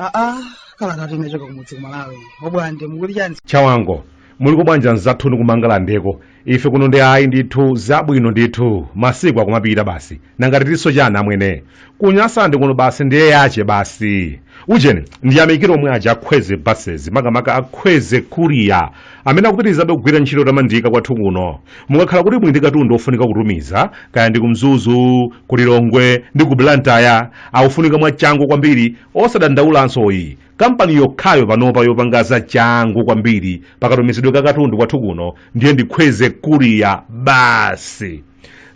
aa kalatatu inachoka kumudzi kumalawi obwande mukuti chani chawango muliko bwanji amzathuni kumangalandeko ife kuno ndi ayi ndithu zabwino ndithu masiku akumapita basi nanga titinso chani amwene kunyasa ndi kuno basi ndiye yache basi ujeni ndiyamikire omwe aja a kwezy buses makamaka a kwezy courier amene akupitirizabe kugwira ntchito otamandika kwathu kuno mukakhala kuti muli ndi katundu ofunika kutumiza kaya ndi kumzuzu kulilongwe ndi ku blantaya akufunika mwachangu kwambiri osadandaulanso ayi kampani yokhayo panopa yopanga za changu kwambiri pakatumizidwe ka katundu kwathu kuno ndiye ndi kwezy courier basi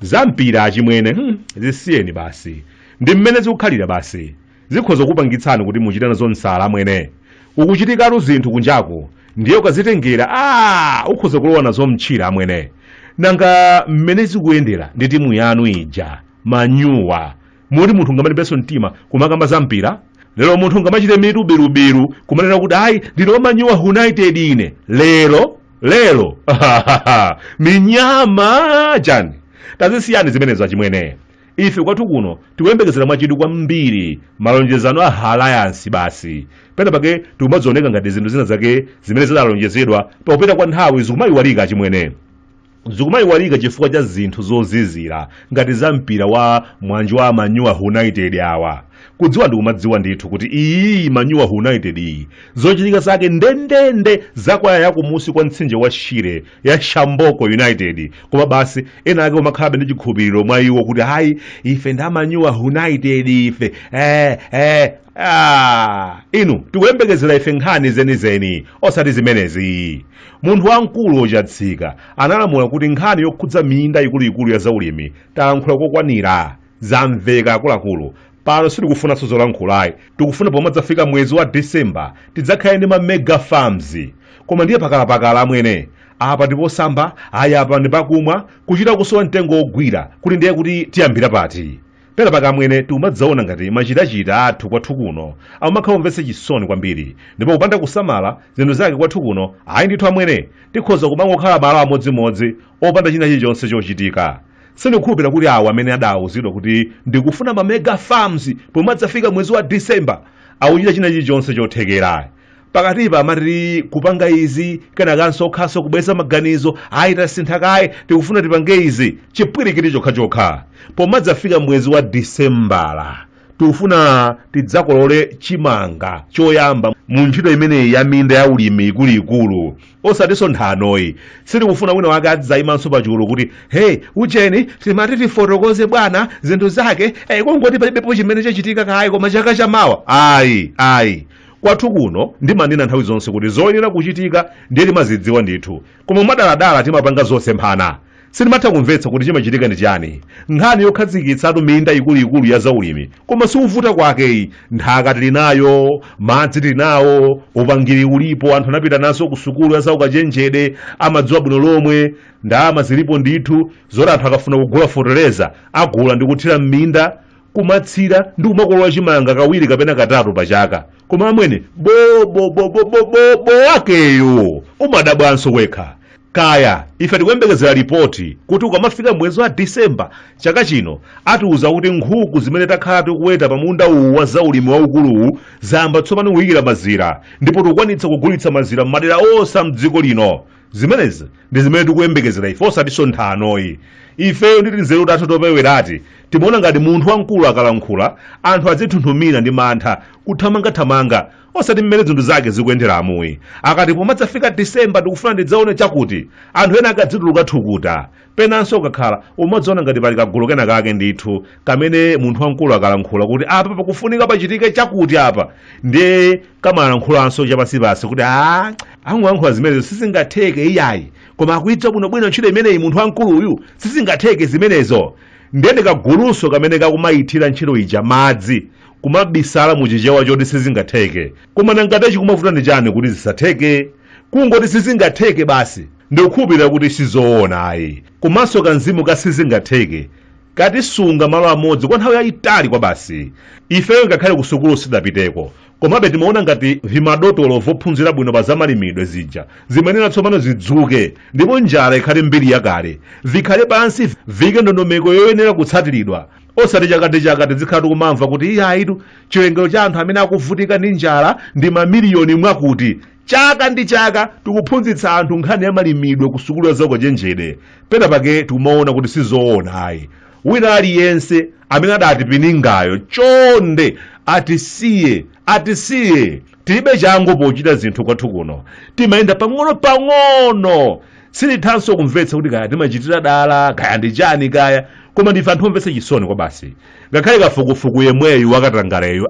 za mpira achimwene hmm, zisiyeni basi ndi mmene zikukhalira basi zikhoza kupangitsani kuti muchite nazo msala amwene kukuchitikatu zinthu kunjaku ndiye ukazitengera a ukhoza kulowa nazo mtchira amwene nanga mmene zikuyendera ndi timu yanu ija manyuwa moti munthu ungamalimbenso mtima kumakamba za mpira lero munthu ungamachite mitu birubiru kumanena kuti ayi ndine wamanyuwa united ine lero lero minyama chani tazisiyani zimenezo achimwene ife kwathu kuno tikuyembekezera mwachidwi kwambiri malonjezano a alliance basi pena pake tikumadzioneka ngati zinthu zina zake zimene zidalonjezedwa pakupita kwa nthawi zikumayiwalika achimwene zikumayiwalika chifukwa cha zinthu zozizira ngati za mpira wa mwanji wa manyuwa united awa kudziwa ndikumadziwa ndithu kuti iyi manyuwa united iyi zochitika zake ndendende za kwaya yakumunsi kwa mtsinje wa shire ya shamboko united koma basi ena ake kumakhalabe ndi chikhulupiriro mwa iwo kuti ayi ife ndi amanyuwa united ife eh, eh. Ah, inu tikuyembekezera ife nkhani zenizeni osati zimenezi Munthu wamkulu ochatsika analamula kuti nkhani yokhudza minda ikuluikulu ya zaulimi talankhula kokwanira. Zamveka akuluakulu, pano sitikufunanso zolankhulayi, tikufuna pomadzafika mwezi wa December tidzakhale ndi ma mega farms. Koma ndiye pakalapakala amwene. Apa ndi posamba, ayi apa ndi pakumwa, kuchita kusowa mtengo wogwira, kuti ndiye kuti tiyambira pati? pena pake amwene tikumadzaona ngati machitachita athu kwathu kuno amakhala omvetsa chisoni kwambiri ndipo kupanda kusamala zinthu zake kwathu kuno ayi ndithu amwene tikhoza kumangokhala malo amodzimodzi opanda china chilichonse chochitika sindikukhulupirira kuti awo amene adawuzidwa kuti ndikufuna mamega farms pomadzafika mwezi wa december akuchita china chilichonse chothekera pakatipa amati tikupanga izi kenakanso okhanso kubweza maganizo ayi tasintha kaye tikufuna tipange izi chipwirikiti chokhachokha pomadzafika mwezi wa disembala tikufuna tidzakolole chimanga choyamba mu ntchito imeneyi ya minda ya ulimi ikuluikulu osatinso nthanoyi sitikufuna wina wake adzayimanso pachulu kuti hey ujeni timati tifotokoze bwana zinthu zake hey, kungoti palibepo chimene chachitika kaye koma chaka chamawa ayi ayi Kwathu kuno ndimanena nthawi zonse kuti zoyenera kuchitika ndiye timazidziwa ndithu, koma mwadaladala timapanga zosemphana. Sindimatha kumvetsa kuti chimachitika ndi chiyani. Nkhani yokhazikitsatu minda ikuluikulu ya zaulimi koma sikuvuta kwake iyi. Nthaka tili nayo, madzi tili nawo, upangiri ulipo, anthu anapitanso kusukulu ya zaukachenjede, amadziwa bwino lomwe, ndalama zilipo ndithu zoti anthu akafuna kugula fotereza agula ndi kuthira m'minda kumatsira ndi kumakolola chimanga kawiri kapena katatu pa chaka koma amwene bobobobobobobo wakeyo umadabwanso wekha kaya ife tikuyembekezera lipoti kuti ukamafika mwezi wa disemba chaka chino atiuza kuti nkhuku zimene takhala tikuweta pa munda uwu wa zaulimi waukuluwu zayamba tsopano kuyikira mazira ndipo tikukwanitsa kugulitsa mazira m'madera onse a mdziko lino zimenezi ndi zimene tikuyembekezera ife osatinso nthanoyi ifeyo ndi tinzeru tathu topewerati timaona ngati munthu wamkulu akalankhula anthu adzithunthumira ndi mantha kuthamangathamanga osati mmene zinthu zake zikuyendera amuyi akati pomadzafika disemba ndikufuna ndidzaone chakuti anthu ena akadzituluka thukuta Penanso ukakhala, umadziona ngati pali kagulu kenakake ndithu kamene munthu wamkulu akalankhula kuti apa pakufunika pachitike chakuti apa, ndiye kamalankhulanso chapansipansi kuti a angolankhula zimenezo sizingatheke iyayi, koma akuidziwa bwinobwino ntchito imeneyi munthu wamkulu uyu sizingatheke zimenezo. Ndiye ndi kagulunso kamene kakumaithira ntchito ija madzi kumabisala mu chichewa choti sizingatheke. Koma nanga chikumavuta ndi chani kuti zisatheke? kungoti sizingatheke basi ndikukhulupirira kuti sizoona ayi komanso kamzimu ka sizingatheke katisunga malo amodzi kwa nthawi yayitali kwabasi ifeyo ngakhale ku sukulu sitidapiteko komabe timaona ngati vimadotolo vophunzira bwino pa zamalimidwe zija zimenera tsopano zidzuke ndipo njala ikhale mbiri yakale vikhale pansi vike ndondomeko yoyenera kutsatiridwa osati chaka ndi chaka tizikhala tikumamva kuti iyayitu chiwerengero cha anthu amene akuvutika ndi njala ndi mamiliyoni mwakuti chaka ndi chaka tikuphunzitsa anthu nkhani ya malimidwe ku sukulu ya zaukachenjede pena pake tikumaona kuti sizoona ayi wina aliyense amene adatipiningayo chonde atisiye atisiye tilibe changu pochita zinthu kwathu kuno timayenda pang'ono pang'ono sindithanso kumvetsa kuti kaya timachitira dala kaya ndi chani kaya koma ndife anthu omvetsa chisoni kwabasi ngakhale kafukufuku yemweyu wakatangaleyu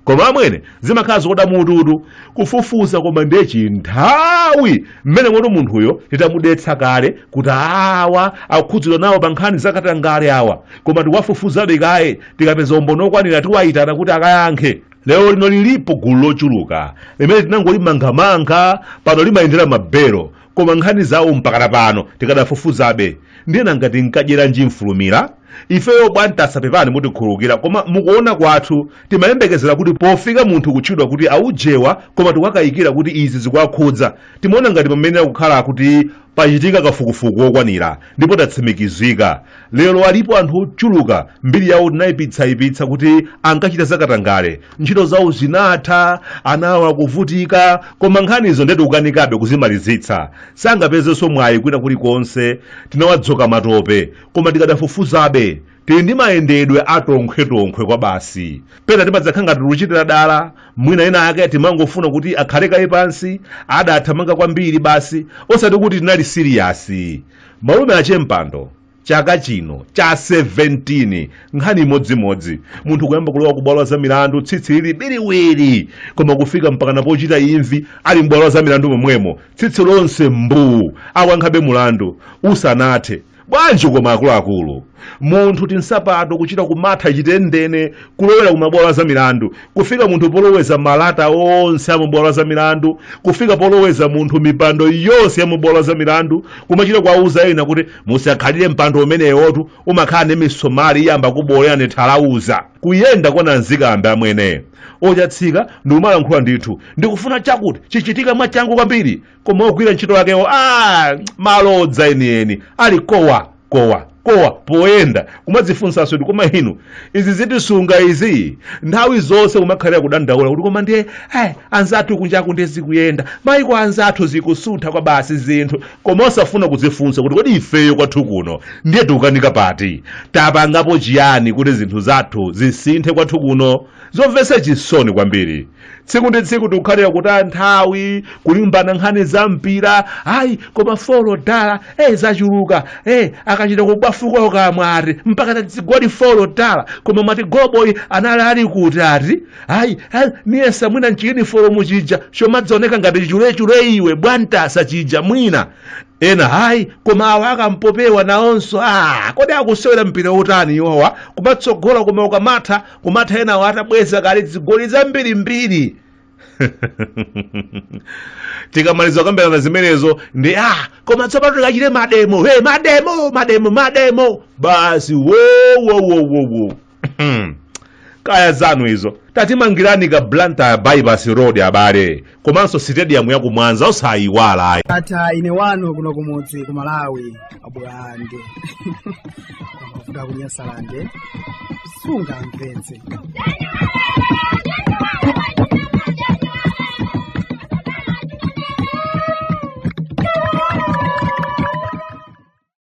koma amwene zimakhala zokoda mututu kufufuza koma ndiye chinthawi mmene moti munthuyo titamudetsa kale kuti awa akukhudzidwa nawo pa nkhani zakatangale awa koma tikuwafufuzabe kaye tikapeza umboni okwanira tiwayitana kuti akayankhe lero lino lilipo gulu lochuluka limene tinangolimangamanga pano limayendera mabelo koma nkhani zawo mpakana pano tikadafufuzabe ndiye ena ngati mukadyeranji mfulumira ifeyo bwantasa pepani mutikhulukira koma mukuona kwathu timayembekezera kuti pofika munthu kutchedwa kuti aujewa koma tikuwakayikira kuti izi zikuwakhudza timaona ngati pamayenera kukhala kuti pachitika kafukufuku wokwanira ndipo tatsimikizika lero alipo anthu ochuluka mbiri yawo tinayipitsayipitsa kuti ankachita zakatangale ntchito zawo zinatha ana awo akuvutika koma nkhanizo nde tikukanikabe kuzimalizitsa sangapezenso mwayi kwina kulikonse tinawadzoka matope koma tikadafufuzabe tili ndi mayendedwe atonkhwetonkhwe kwabasi pena timadzakhala ngati tikuchitira dala mwina ena ake timangofuna kuti akhale kaye pansi adathamanga kwambiri basi osati kuti tinali siriyasi Malume a Che Mpando, chaka chino cha 17 nkhani imodzimodzi munthu kuyamba kulowa kubwalo la zamilandu tsitsi lili biriwiri koma kufika mpakana pochita imvi ali m'bwalo la zamilandu momwemo tsitsi lonse mbuu akuyankhabe mulandu usanathe bwanji koma akuluakulu munthu tinsapato kuchita kumatha chitendene kulowera ku mabwalo a zamilandu kufika munthu poloweza malata onse a mabwalo a zamilandu kufika poloweza munthu mipando yonse ya mabwalo a zamilandu kumachita kuwauza ena kuti musakhalire mpando umenewotu umakhala ndi misomali iyamba kukubolerani thalauza kuyenda kwa nanzikambe amwene ochatsikayo ndikumalankhula ndithu ndikufuna chakuti chichitika mwachangu kwambiri koma ogwira ntchito yakewo malodza enieni ali kowa kowa kowa poyenda kumadzifunsanso kuti koma inu izi zitisunga izi nthawi zonse kumakhalira kudandaula kuti koma ndiye eh, anzathu kunjaku ndiye zikuyenda maiko anzathu zikusuntha kwabasi zinthu koma osafuna kudzifunsa kuti kodi ifeyo kwathu kuno ndiye tikukanika pati tapangapo chiyani kuti zinthu zathu zisinthe kwathu kuno zomvetsa chisoni kwambiri tsiku ndi tsiku tikukhalira kutaya nthawi kulimbana nkhani za mpira ayi koma folo dala eh zachuluka eh akachita kubwafuka kukamwa ati mpaka tadzigoli folo dala koma mati goloboyi anali ali kuti ati ayi ayi, niyesa mwina nchiyini folo muchija chomadzaoneka ngati chulechule iwe bwantasa chija mwina ena hayi koma awa akampopiwa nawonso ah kodi akusewera mpira wotani iwowa kumatsogola koma ukamatha kumatha enawo atabweza kale zigoli zambirimbiri tikamaliza kukambirana zimenezo ndi koma tsopano tikachite mademo mademo mademo mademo basi wowowowowo kaya zanu izo tatimangirani ka blantyre bypass road abale komanso sitediyamu ya ku mwanza osayiwala ayi ata ine wanu kuno kumudzi ku malawi abwange kuda kunyasalande sunga mpenzi